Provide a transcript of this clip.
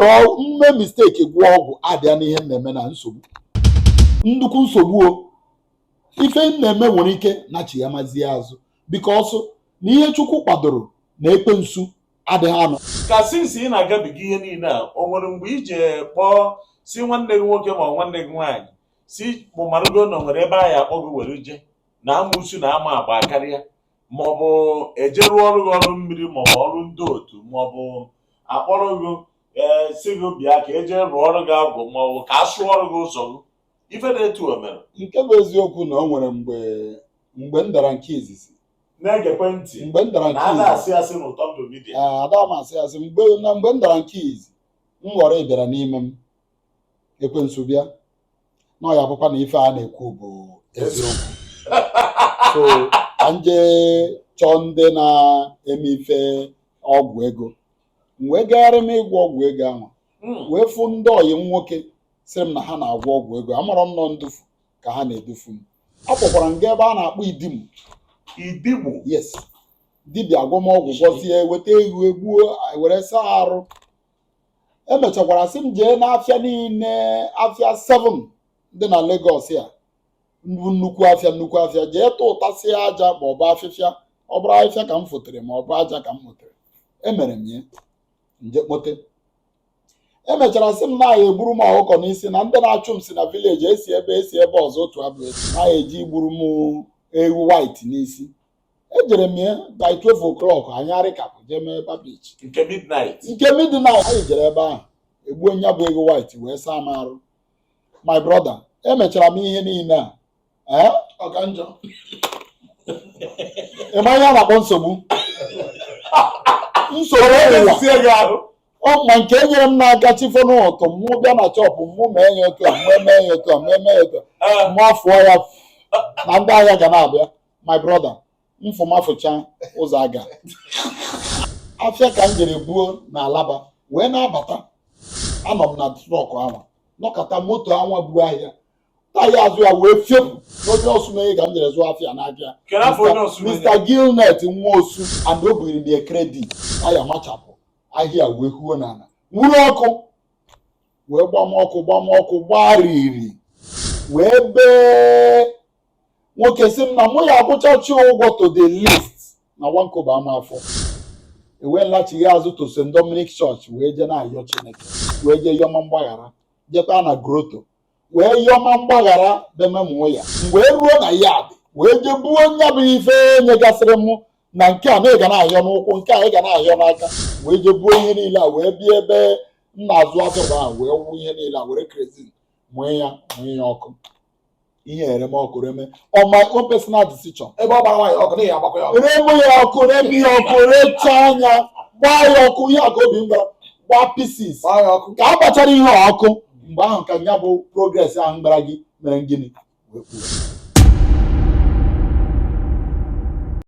mme mistake gwọọ ọgwụ abịa n'ihe m na-eme na nsogbu nnukwu nsogbu o ife m na-eme nwere ike na chi ya mazie azụ because na ihe chukwu kwadoro na ekwensu adịghị anọ ka since ị na-agabiga ihe niile a o nwere mgbe i ji kpọọ si nwanne gị nwoke ma ọ nwanne gị nwaanyị si kpụmarụgo na o nwere ebe a ya akpọ gị were je na amụsu na ama agba karịa maọbụ eje rụọrụ gị ọrụ mmiri maọbụ ọrụ ndị otu maọbụ akpọrọ gị ee si gị bịa ka eje rụọrụ gị agwụ maọbụ ka a sụọrụ gị ụzọ gị ife na-etu o mere nke bụ eziokwu na o nwere mgbe mgbe m dara nke izizi na-egekwe ntị mgbe m dara na nke a izizi na ada asị asị n'ụtọ ndụ media Ee, ada m asị asị mgbe na mgbe m dara nke izi m ghọrọ ịbịara n'ime m ekwensu bịa na ọ ya-abụkwa na ife a na-ekwu bụ eziokwu so ka m je chọọ ndị na-eme ife ọgwụ ego m wee gagharị m ịgwọ ọgwụ ego ahụ hmm. wee fụ ndị ọyị m nwoke sịrị m na ha na-agwọ ọgwụ ego amarọ m na ọ ndufu ka ha na-edufu m ọ kpọkwara m gaa ebe a na-akpọ idimu idimu yes dibịa agwọọ m ọgwụ gwọsịa weta ewu egbuo were saa arụ emechakwara sị m jee n'afịa niile afịa 7 dị na Lagos ya bụ nnukwu afịa nnukwu afịa jee tụtasịa aja ma ọ bụ afịfịa ọ bụrụ afịfịa ka m fotere ma ọ bụ aja ka m motere emere m ya m je kpote emechara sị m na a ya-egburu m ọkụkọ n'isi na ndị na-achụ m si na village esi ebe esi ebe ọzọ otu abụ esi na a ya-eje gburu m ewu white n'isi ejere m ya by 12 o'clock anyị arịkapụ jee mee Bar Beach nke midnight nke midnight anyị jere ebe ahụ egbuo nya bụ ewu white wee saa m arụ my brother emechara m ihe niile a ee ọ ka njọ ị ma ihe a na-akpọ nsogbu nsogbu ụwa sie gị ahụ ọ ma nke e nyere m n'aka chi fo n'ụtụtụ mụ bịa na shop mụ mee ya otu a mụ eme ya otu a mụ eme ya otu a mụ afụọ ya na ndị ahịa ga na-abịa my brother m fụma fụcha ụzọ aga afịa ka m jere buo na Alaba wee na-abata anọ m na trọk ahụ nọkata moto anwa bu ahịa taya azụ ya wee fepụ n'onye Osumenyi ka m jere zụọ afịa na be ya Mr. Gilnet Nwosu and o bugiri m ya credit taya machapụ ahịa wee huo n'ala nwuru ọkụ wee gbama ọkụ gbama ọkụ gbariri wee bee nwoke si m na mụ ya akwụchachi ụgwọ to the least na one kobo ama afọ ewee m lachighị azụ to St. Dominic Church wee jee na-ayọ Chineke wee jee yọma mgbaghara jekwa na grotto wee yọma mgbaghara bememụọ ya m wee ruo na yard wee jee buo nya bụ ife e nyegasịrị m na nke a na ị ga na-ayọ n'ụkwụ nke a ị ga na-ayọ n'aka wee jee buo ihe niile a wee bịa ebe m na-azụ atụrụ ahụ wee wụ ihe niile a were kerosene mụọ ya mụọ ya ọkụ ihe ereme ọkụ reme on my own personal decision ebe ọ gbara nwaanyị ọkụ na ya agbakwa ya ọkụ reme ya ọkụ reme ya ọkụ recha anya gbaa ya ọkụ ihe a ka obi m gwara gbaa pieces gbaa ya ọkụ ka a gbachara ihe a ọkụ mgbe ahụ ka ya bụ progress ahụ m gwara gị mere gịnị wee kwuo